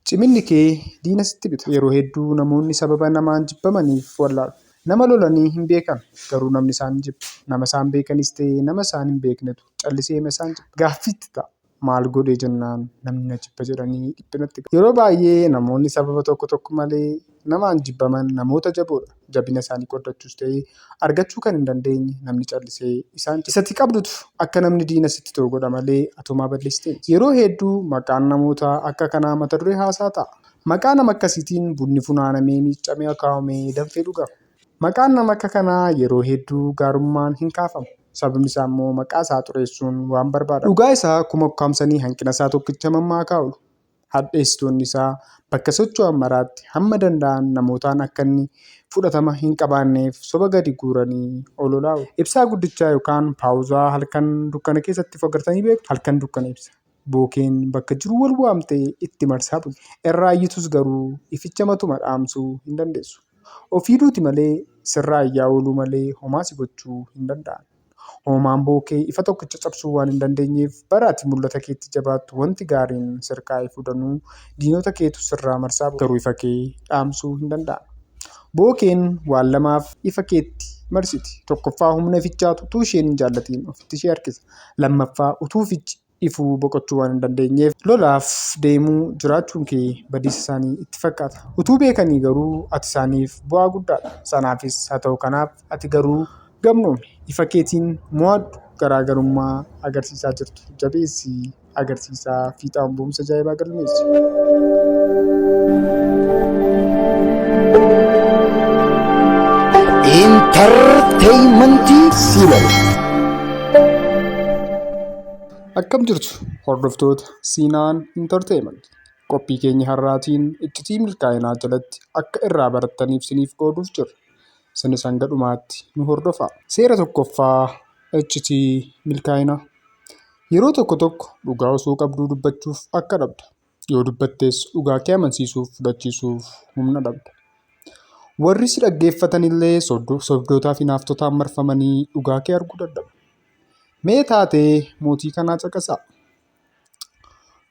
Ciminni kee diina sitti bita. Yeroo hedduu namoonni sababa namaan jibbamaniif wallaalu. Nama lolanii hin beekan, garuu namni isaan ni jibba. Nama isaan beekanis ta'e nama isaan hin beeknetu calliseema isaan jibba. Gaaffii itti ta'a, Maal godhe jennaan namni na jibba jedhanii dhiphinatti galu. Yeroo baay'ee namoonni sababa tokko tokko malee. Namaan jibbaman namoota jaboodha. Jabina isaanii qooddachuus ta'e argachuu kan hin dandeenye namni callisee isaan cina. Isati qabdutu akka namni diina sitti ta'u godha malee atumaa balleessitee miti. Yeroo heedduu maqaan namoota akka kanaa mata duree haasaa ta'a. Maqaa nama akkasiitiin bunni funaanamee miiccamee akaawamee danfee dhugama. Maqaan nama akka kanaa yeroo heedduu gaarummaan hin kaafamu. Sababni isaa immoo maqaa isaa xureessuun waan barbaadamuuf. Dhugaa isaa kuma ukkaamsanii hanqina isaa tokkicha mammaakaaoolu. hadheessitoonni isaa bakka socho'an maraatti hamma danda'an namootaan akka inni fudhatama hin qabaanneef soba gadi guuranii ololaa ibsaa guddichaa yookaan paawuzaa halkan dukkana keessatti of agartanii beektu halkan dukkana ibsa bookeen bakka jiru wal waamtee itti marsaa bulti. Irraa iyyitus garuu ificha matuma dhaamsuu hin dandeessu. Ofii duuti malee sirraa iyyaa ooluu malee homaa si gochuu hin danda'an. Hoomaan bo'oo kee ifa tokkicha cabsuu waan hin dandeenyeef, bara ati mul'ata keetti jabaattu wanti gaariin sirkaa ifuu danuu, diinota keetu sirraa marsaa booda garuu ifa kee dhaamsuu hin danda'an. Bo'oo keen waan lamaaf ifa keetti marsiti. Tokkoffaa humna ifichaatu utuu isheen hin jaallatiin ofitti ishee harkisa. Lammaffaa utuu ifichi. ifuu boqochuu waan hin dandeenyeef lolaaf deemuu jiraachuun kee badiisa isaanii itti fakkaata. Utuu beekanii garuu ati isaaniif bu'aa guddaa dha. Sanaafis haa ta'u kanaaf ati garuu gamnoomi. Ifa keetiin mo'adhu. Garaa garummaa agarsiisaa jirtu jabeessii agarsiisaa fiixaan ba'umsa ajaa'ibaa galmeessi. Intarteeymantii Siilal. Akkam jirtu hordoftoota Siinaan Intarteemanti. Qophii keenya har'aatiin iccitii milkaa'inaa jalatti akka irraa barattaniif isiniif qooduuf jirra. Isinis hanga dhumaatti nu hordofaa. Seera tokkoffaa iccitii milkaa'inaa. Yeroo tokko tokko dhugaa osoo qabduu dubbachuuf akka dhabda. Yoo dubbattes dhugaa kee amansiisuuf fudhachiisuuf humna dhabda. Warri si dhaggeeffatan illee sobdootaa fi naaftotaan marfamanii dhugaa kee arguu dadhabu. Mee taatee mootii kanaa caqasaa.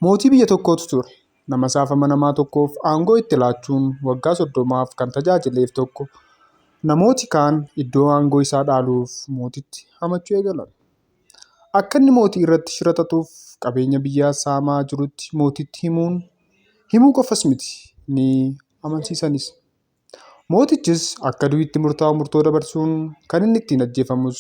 Mootii biyya tokkootu ture. Nama isaaf amanamaa tokkoof aangoo itti laachuun waggaa soddomaaf kan tajaajileef tokko namooti kaan iddoo aangoo isaa dhaaluuf mootitti hamachuu eegalan. Akka inni mootii irratti shira xaxuuf qabeenya biyyaa saamaa jirutti mootiitti himuun, himuu qofas miti, ni amansiisanis. Mootichis akka du'i itti murtaa'u murtoo dabarsuun kan inni ittiin ajjeefamus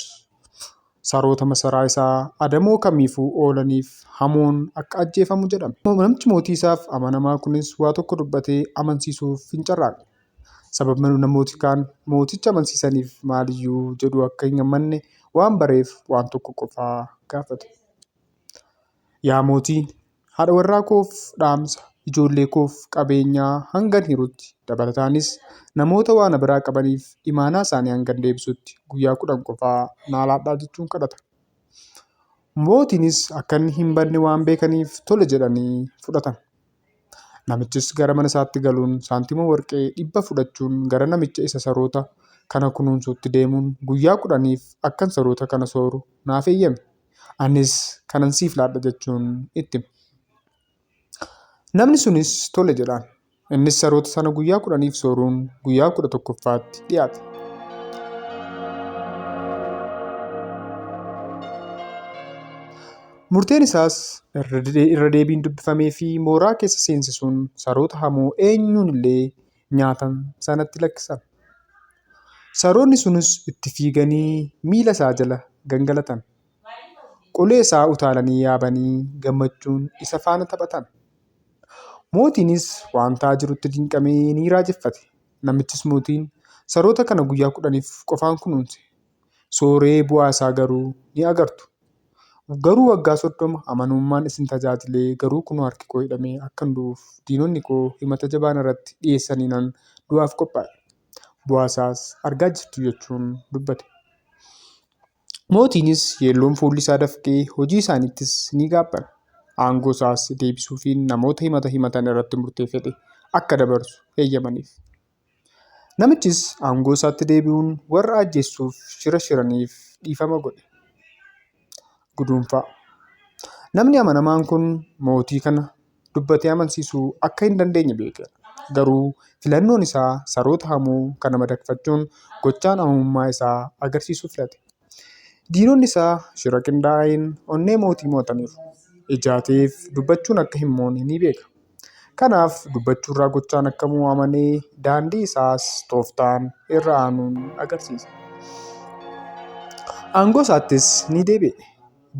saroota masaraa isaa adamoo kamiifuu oolaniif hamuun akka ajjeefamu jedhame. Namichi mootii isaaf amanamaa kunis waa tokko dubbatee amansiisuuf hin carraaqne. Sababni namooti kaan mooticha amansiisaniif maaliyyuu jedhu akka hin gammanne waan bareef waan tokko qofa gaafate. Yaa mootii, haadha warraa koof dhaamsa, ijoollee koof qabeenyaa hangan hirutti, dabalataanis namoota waa na biraa qabaniif imaanaa isaanii hangan deebisutti guyyaa kudhan qofa naa laadhaa jechuun kadhata. Mootiinis akka inni hin badne waan beekaniif tole jedhanii fudhatan. Namichis gara mana isaatti galuun saantima warqee dhibba fudhachuun gara namicha isa saroota kana kunuunsuutti deemuun guyyaa kudhaniif akkan saroota kana sooru naaf eeyyami. Anis kanan siif laadha jechuun itti hime. Namni sunis tole jedhaan. Innis saroota sana guyyaa kudhaniif sooruun guyyaa kudha tokkoffaatti dhiyaate. Murteen isaas irra deebiin dubbifamee fi mooraa keessa seensisuun saroota hamoo eenyuun illee nyaatan sanatti lakkisan. Saroonni sunis itti fiiganii miila isaa jala gangalatan. Qolee isaa utaalanii yaabanii gammachuun isa faana taphatan. Mootiinis waan ta'aa jirutti dinqamee ni raajeffate. Namichis mootiin saroota kana guyyaa kudhaniif qofaan kunuunse. sooree bu'aa isaa garuu ni agartu. Garuu waggaa soddoma amanummaan isin tajaajilee garuu kunoo harki koo hidhamee akkan du'uuf diinonni koo himata jabaa narratti dhiyeessaniinan du'aaf qophaa'e. Bu'aa isaas argaa jirtu jechuun dubbate. Mootiinis yeelloon fuulli isaa dafqee hojii isaaniittis ni gaabbana. Aangoo isaas deebisuufiin namoota himata himatan irratti murtee fedhe akka dabarsu heeyyamaniif. Namichis aangoo isaatti deebi'uun warra ajjeessuuf shira shiraniif dhiifama godhe. Guduunfaa. Namni amanamaan kun mootii kana dubbatee amansiisuu akka hin dandeenye beekeera. Garuu filannoon isaa saroota hamoo kana madaqfachuun gochaan amamummaa isaa agarsiisuu filate. Diinonni isaa shira qindaa'een onnee mootii mo'ataniiru. Ijaateef dubbachuun akka hin moone ni beeka. Kanaaf dubbachuurraa gochaan akka mo'u amanee daandii isaas tooftaan irra aanuun agarsiisa. Aangoo isaattis ni deebi'e.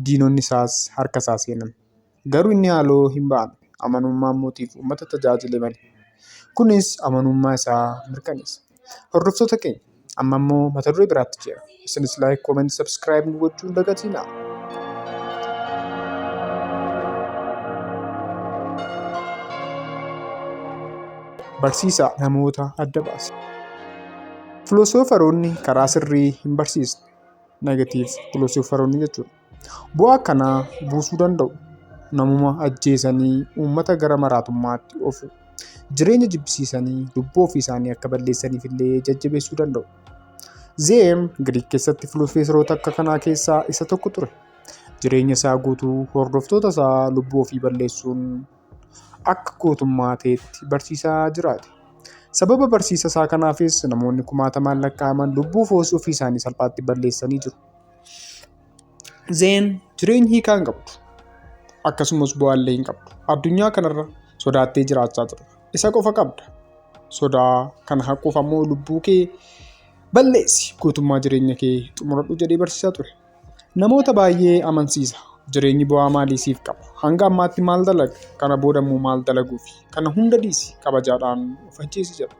Diinonni isaas harka isaa seenan. Garuu inni haaloo hin ba'an, amanummaan mootiif ummata tajaajile malee. Kunis amanummaa isaa mirkaneessa. Hordoftoota keenya, amma immoo mata duree biraatti ceena. Isinis like, comment, subscribe nu gochuu hin dagatinaa. Barsiisaa namoota adda baasa. Filosoofaroonni karaa sirrii hin barsiisne. Negative filosoofaroonni jechuudha. Bu'aa akkanaa buusuu danda'u. Namuma ajjeesanii uummata gara maraatummaatti ofu. Jireenya jibbisiisanii lubbuu ofii isaanii akka balleessaniif illee jajjabeessuu danda'u. Zeem Giriik keessatti filoosoferoota akka kanaa keessaa isa tokko ture. Jireenya isaa guutuu hordoftoota isaa lubbuu ofii balleessuun akka gootummaa ta'etti barsiisaa jiraate. Sababa barsiisa isaa kanaafis namoonni kumaatamaan lakkaa'aman lubbuu ofii isaanii salphaatti balleessanii jiru. Zeen jireenyi hiikaa hin qabdu. Akkasumas bu'aallee hin qabdu. Addunyaa kanarra sodaattee jiraachaa jirta. Isa qofa qabda. Sodaa kana haquuf ammoo lubbuu kee balleessi guutummaa jireenya kee xumuradhu jedhee barsiisaa ture. Namoota baay'ee amansiisa. Jireenyi bu'aa maalii siif qaba? Hanga ammaatti maal dalaga? Kana booda immoo maal dalaguufi? Kana hunda dhiisi kabajaadhaan of ajjeesi jedha.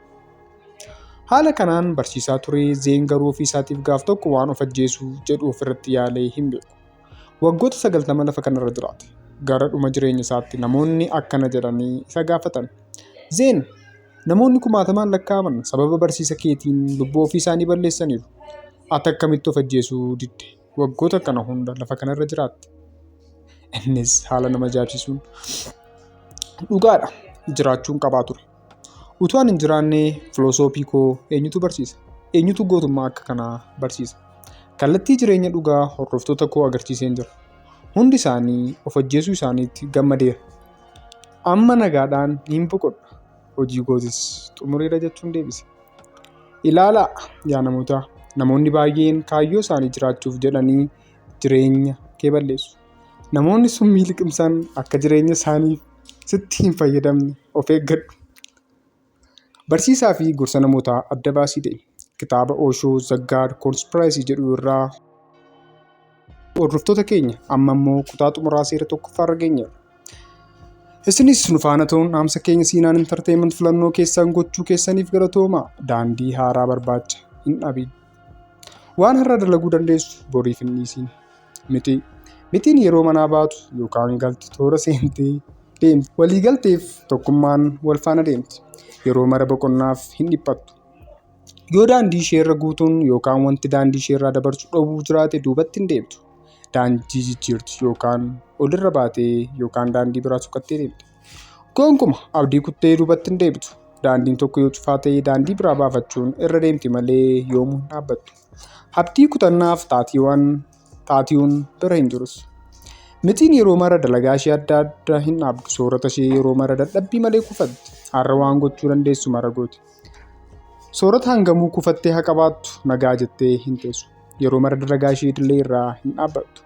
Haala kanaan barsiisaa turee Zeen garuu ofii isaatiif gaaf tokko waan of ajjeesuu jedhu ofirratti yaalee hin beeku. Waggoota sagaltama lafa kanarra jiraate. Gara dhuma jireenya isaatti namoonni akkana jedhanii isa gaafatan. Zeen, namoonni kumaatamaan lakkaa'aman sababa barsiisa keetiin lubbuu ofii isaanii balleessaniiru. Ati akkamitti of ajjeesuu didde? Waggoota kana hunda lafa kanarra jiraatte. Innis haala nama ajaa'ibsiisuun dhugaadha jiraachuun qabaa ture. Utuu ani hin jiraannee filosoofii koo eenyutu barsiisa? Eenyutu gootummaa akka kanaa barsiisa? Kallattii jireenya dhugaa hordoftoota koo agarsiiseen jira. Hundi isaanii of ajjeesuu isaaniitti gammadeera. Amma nagaadhaan niin boqodha, hojii kootis xumureera jechuun deebise. Ilaalaa yaa namoota, namoonni baay'een kaayyoo isaanii jiraachuuf jedhanii jireenya kee balleessu. Namoonni summii liqimsan akka jireenya isaaniif sitti hin fayyadamne of eeggadhu. Barsiisaa fi gorsa namootaa adda baasii ta'e. Kitaaba Osho The God Conspiracy jedhu irraa hordoftoota keenya amma immoo kutaa xumuraa seera tokkoffaa irra geenyeera. Isinis nu faana ta'uun dhaamsa keenya Siinaan Intarteeyiment filannoo keessan gochuu keessaniif galatooma. Daandii haaraa barbaacha hin dhabin. Waan har'a dalaguu dandeessu boriif hin dhiisin. Mixii. Mixiin yeroo manaa baatu yookaan galtu toora seentee deemti. Waliigalteef tokkummaan wal faana deemti. Yeroo mara boqonnaaf hin dhiphattu. Yoo daandii ishee irra guutuun yookaan wanti daandii ishee irraa dabarsu dhowwuu jiraate duubatti hin deemtu. Daandii jijjiirti yookaan olirra baatee yookaan daandii biraa sukattee deemti. Goonkuma abdii kuttee duubatti hin deebitu. Daandiin tokko yoo cufaa ta'e daandii biraa baafachuun irra deemti malee yoomuu hin dhaabbattu. Habtii kutannaaf taatiiwaan taatiiwun bira hin jirus. Mitiin yeroo mara dalagaa ishee adda adda hin dhaabdu soorata ishee yeroo mara dadhabbii malee kufatti har'a waan gochuu dandeessu mara gooti. Soorata hangamuu kufattee haa qabaattu nagaa jettee hin teessu. Yeroo mara dalagaa ishee idilee irraa hin dhaabbattu.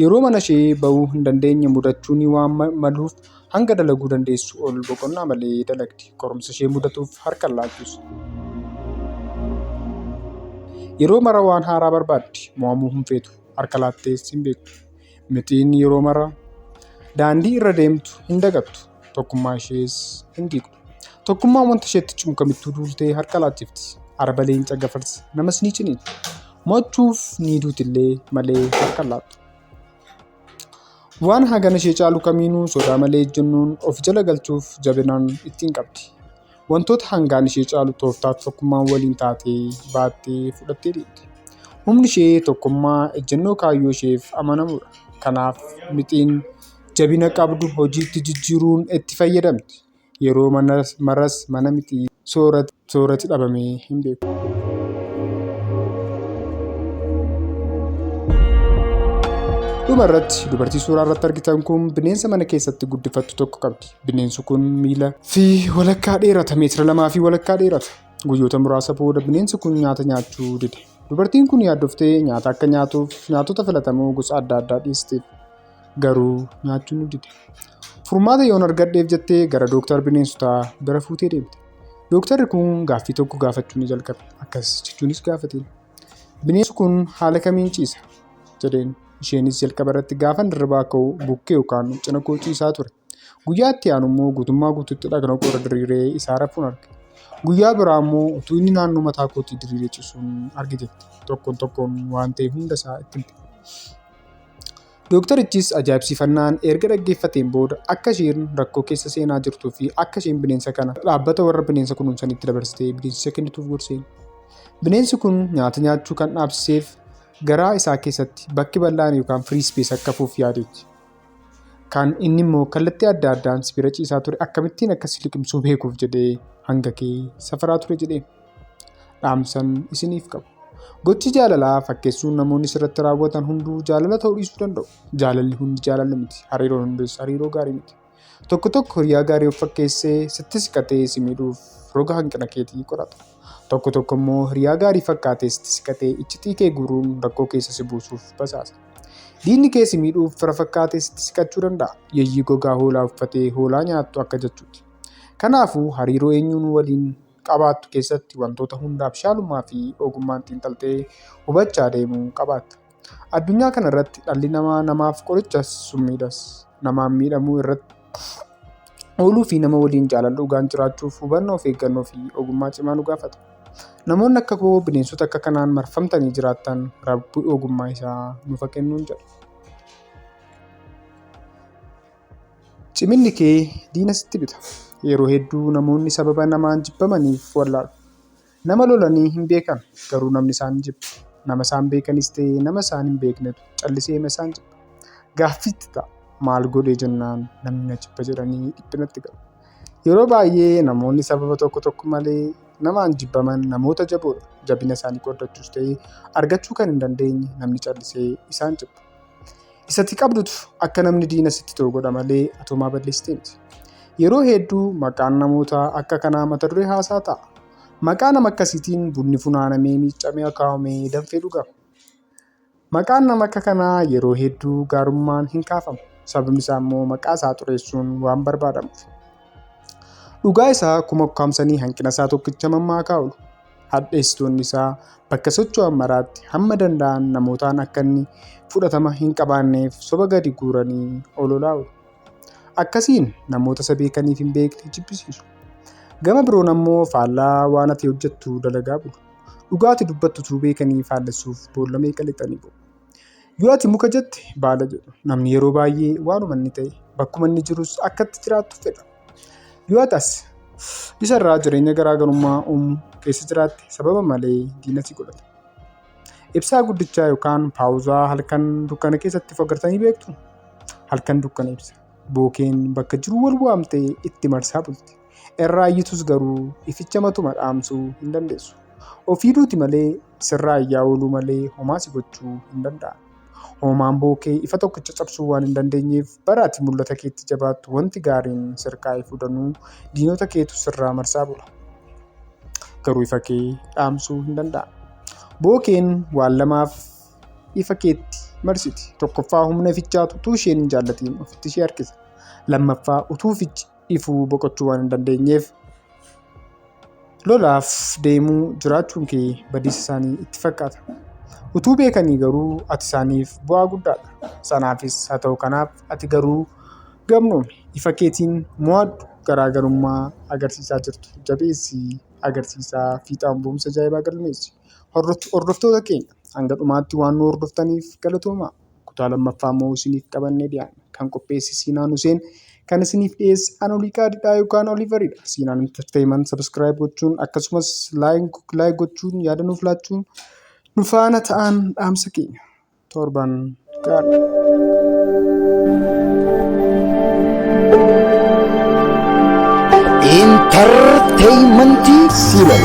Yeroo mana ishee ba'uu hin dandeenye mudachuun waan maluuf Hanga dalaguu dandeessu ol boqonnaa malee dalagdi. Qorumsa ishee mudatuuf harka hin laattus. Yeroo mara waan haaraa barbaaddi. Mo'amuu hin feetu. Harka laattees hin beektu. Mixiin yeroo mara daandii irra deemtu hin dagattu. Tokkummaa ishees hin diigdu. Tokkummaan wanta isheetti cimu kamittuu duultee harka laachifti. Araba leenca gafarsa namas ni ciniinti. Mo'achuuf ni duutillee malee harka hin laattu. Waan hagana ishee caalu kamiinuu sodaa malee ejjennoon of jala galchuuf jabinaan itti hin qabdi. Wantoota hangaan ishee caalu tooftaa fi tokkummaan waliin taatee baattee fudhattee deemti. Humni ishee tokkummaa, ejjennoo kaayyoo isheef amanamuudha. Kanaaf mixiin jabina qabdu hojiitti jijjiiruun itti fayyadamti. Yeroo maras mana miti soorati dhabamee hin beeku. Dhuma irratti dubartii suuraa irratti argitan kun bineensa mana keessatti guddifattu tokko qabdi. Bineensi kun miila fi walakkaa dheerata meetira lamaa fi walakkaa dheerata. Guyyoota muraasa booda bineensi kun nyaata nyaachuu dide. Dubartiin kun yaaddoftee nyaata akka nyaatuuf nyaatota filatamoo gosa adda addaa dhiisteef. garuu nyaachuu nu dide. Furmaata yoon argadheef jettee gara dooktar bineensotaa bira fuutee deemte. Dooktarri kun gaaffii tokko gaafachuu ni jalqabe. Akkas jechuunis gaafateen. Bineensi kun haala kamiin ciisa? jedheen. Isheenis jalqaba irratti gaafan hirribaa ka'u bukkee yookaan cina koo ciisaa ture. Guyyaa itti aanu immoo guutummaa guutuutti dhagna koo irra diriiree isaa rafuun arge. Guyyaa biraa immoo utuu inni naannoo mataa kootii diriiree cisuun arge jette. Tokkoon tokkoon waan ta'e hunda isaa itti himte. Dooktarichis ajaa'ibsiifannaan erga dhaggeeffateen booda akka isheen rakkoo keessa seenaa jirtuu fi akka isheen bineensa kana dhaabbata warra bineensa kunuunsanitti dabarsitee bineensicha kennituuf gorseen. Bineensi kun nyaata nyaachuu kan dhaabsiseef garaa isaa keessatti bakki bal'aan yookaan firii ispees akka hafuuf yaadeetti. Kaan inni immoo kallattii adda addaan si bira ciisaa ture akkamittiin akka si liqimsuu beekuuf jedhee hanga kee safaraa ture jedhee dhaamsan isiniif qabu. Gochi jaalalaa fakkeessuun namoonni sirratti raawwatan hunduu jaalala ta'uu dhiisuu danda'u. Jaalalli hundi jaalala miti. Hariiroon hundis hariiroo gaarii miti. Tokko tokko hiriyaa gaarii of fakkeessee sitti siqatee si miidhuuf roga hanqina keetii qorata. Tokko tokko immoo hiriyaa gaarii fakkaatee sitti siqatee iccitii kee guuruun rakkoo keessa si buusuuf basaasa. Diinni kee si miidhuuf fira fakkaatee sitti siqachuu danda'a. Yeeyyii gogaa hoolaa uffatee hoolaa nyaattu akka jechuuti. Kanaafuu hariiroo eenyuun waliin qabaattu keessatti wantoota hunda abshaalummaa fi ogummaan xiinxaltee hubachaa deemuu qabaatta. Addunyaa kana irratti dhalli namaa namaaf qorichas summiidhas. Namaan miidhamuu irratti Ooluu fi nama waliin jaalala dhugaan jiraachuuf hubannoo of eeggannoo fi ogummaa cimaa nu gaafata. Namoonni akka koo bineensota akka kanaan marfamtanii jiraattan rabbi ogummaa isaa nuuf haa kennuun jedha. Ciminni kee diina sitti bita. Yeroo hedduu namoonni sababa namaan jibbamaniif wallaalu. Nama lolanii hin beekan, garuu namni isaan hin jibbu. Nama isaan beekanis ta'e nama isaan hin beeknetu calliseema isaan jibba. Gaaffii itti ta'a, maal godhe jennaan namni na jibba jedhanii dhiphinatti galu. Yeroo baay'ee namoonni sababa tokko tokko malee namaan jibbaman namoota jaboodha. Jabina isaanii qooddachuus ta'e argachuu kan hin dandeenye namni callisee isaan jibba. Isati qabdutu akka namni diina sitti ta'u godha malee atoomaa balleessitee miti. Yeroo hedduu maqaan namootaa akka kanaa mata duree haasaa ta'a. Maqaa nama akkasiitiin bunni funaanamee miiccamee akaawamee danfee dhugama. Maqaan nama akka kanaa yeroo hedduu gaarummaan hin kaafamu. Sababni isaa immoo maqaa isaa xureessuun waan barbaadamuuf. Dhugaa isaa kuma ukkaamsanii hanqina isaa tokkicha mammaakaa oolu. hadheessitoonni isaa bakka socho'an maraatti hamma danda'an namootaan akka inni fudhatama hin qabaanneef soba gadi guuranii ololaa'u. Akkasiin namoota isa beekaniif hin beekne jibbisiisu. Gama biroon ammoo faallaa waan ati hojjettu dalagaa bulu. Dhugaa ati dubbattu utuu beekanii faallessuuf boolla meeqa lixanii bu'u. Yoo ati muka jette baala jedhu. Namni yeroo baay'ee waanuma inni ta'e bakkuma inni jirus akka itti jiraatu fedha. Yoo ati as isarraa jireenya garaagarummaa uumu keessa jiraatte sababa malee diina si godhata. Ibsaa guddichaa yookaan paawuzaa halkan dukkana keessatti of agartanii beektu? Halkan dukkana ibsa. Bookeen bakka jiru wal waamtee itti marsaa bulti. Erraa iyyituus garuu ificha matuma dhaamsuu hin dandeessu. Ofii duuti malee sirraa iyyaa ooluu malee homaa si gochuu hin danda'an. Hoomaan boo kee ifa tokkicha cabsuu waan hin dandeenyeef bara ati mul'ata keetti jabaattu wanti gaariin sirkaa ifu danuu diinota keetu sirraa marsaa bula. Garuu ifa kee dhaamsuu hin danda'an. Boo keen waan lamaaf ifa keetti marsiti. Tokkoffaa humna ifichaatu utuu isheen hin jaallatiin ofitti ishee harkisa. Lammaffaa utuu ifichi ifuu boqochuu waan hin dandeenyeef lolaaf deemuu jiraachuun kee badiisa isaanii itti fakkaata. Utuu beekanii garuu ati isaaniif bu'aa guddaadha. Sanaafis haa ta'u kanaaf ati garuu gamnoomi. Ifa keetiin mo'adhu. Garaagarummaa agarsiisaa jirtu jabeessii agarsiisaa fiixaan ba'umsa ajaa'ibaa galmeessi. Hordoftoota keenya hanga dhumaatti waan nu hordoftaniif galatoomaa. Kutaa lammaffaa immoo isiniif qabannee dhiyaanna. Kan qopheesse Siinaan Huseen kan isiniif dhiyeesse Anolii Qaadidhaa yookaan Oliiveridha. Siinaan Entertainment subscribe gochuun akkasumas like gochuun yaada nuuf laachuun nu faana ta'aan dhaamsa keenya. Torban gaarii. Entertainmentii Siinan.